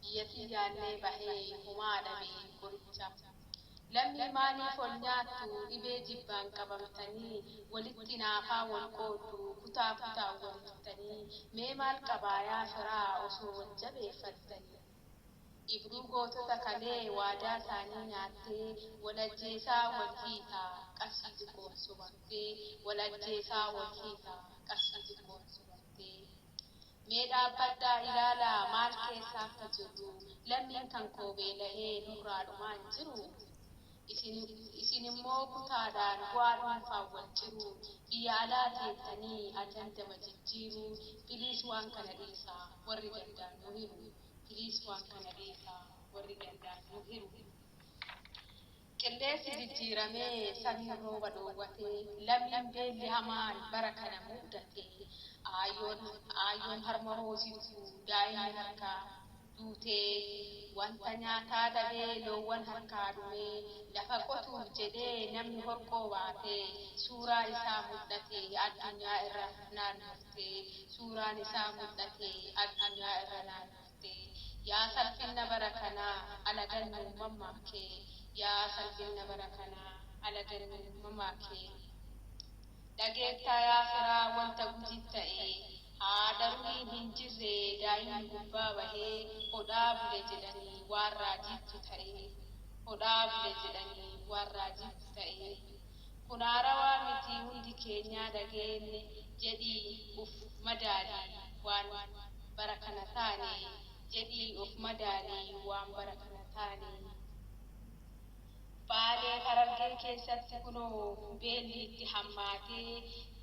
Biyyatii yaannee bahee homaa dhabe qoricha. Lammii maaliif ol nyaattu dhibee jibbaan qabamtanii walitti naafaa wal qooddu kutaa kutaan wal hittanii mee maal qabaa yaa firaa osoo wal jabeeffattanii. Ibruu gootota kalee waadaa isaanii nyaattee wal ajjeesaa wal hiita qarshii xiqqoon sobamtee wal ajjeesaa wal hiita qarshii xiqqoon sobamtee. Mee dhaabbadhaa ilaalaa maal keessa akka jirru, lammiin kan koo beela'ee nurraa dhumaa hin jiru. Isin isin immoo kutaadhaan bu'aa dhuunfaan wal ciru, biyya alaa teettanii ajandama jijjiiru, please waan kana dhiisa warri gandaan nu hiru, please waan kana dhiisa warri gandaan nu hiru. Qilleensi jijjiiramee samiin rooba dhoowwatee lammiin beelli hamaan bara kana mudate. Aayyoon Aayyoon harma hoosiftu daa'imni harkaa duutee wanta nyaataa dhabee loowwan harkaa dhumee lafa qotuuf jedhee namni horqoo baatee suuraa isaa mudhate addunyaa irra naannoftee suuraan isaa mudhate addunyaa irra naannoftee. dhufte yaa salphinna bara kanaa alagan nuu mammaake yaa salphinna bara kanaa alagan nuu mammaake dhageettaa yaa firaa wanta gujit ta'e haadha ruhiin hin jirre daa'imni gubbaa bahe hodhaa bule jedhani waan raajiittu ta'e hodhaa bule jedhani waan raajiittu ta'e. Kun haarawaa miti hundi keenyaa dhageenne jedhii uf madaali waan bara kana taane jedhii of madaali waan bara kana taane Baalee Harargee keessatti kunoo beelli itti hammaatee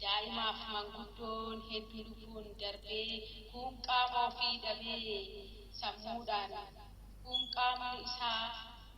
daa'imaaf manguddoon heddu lubbuun darbee kuun qaama ofii dhabee sammuudhaan kuun qaamni isaa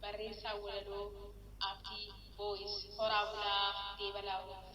Barreessaan Walaloo Abdii Voice Horaa bulaa Deebanaa Oromoo.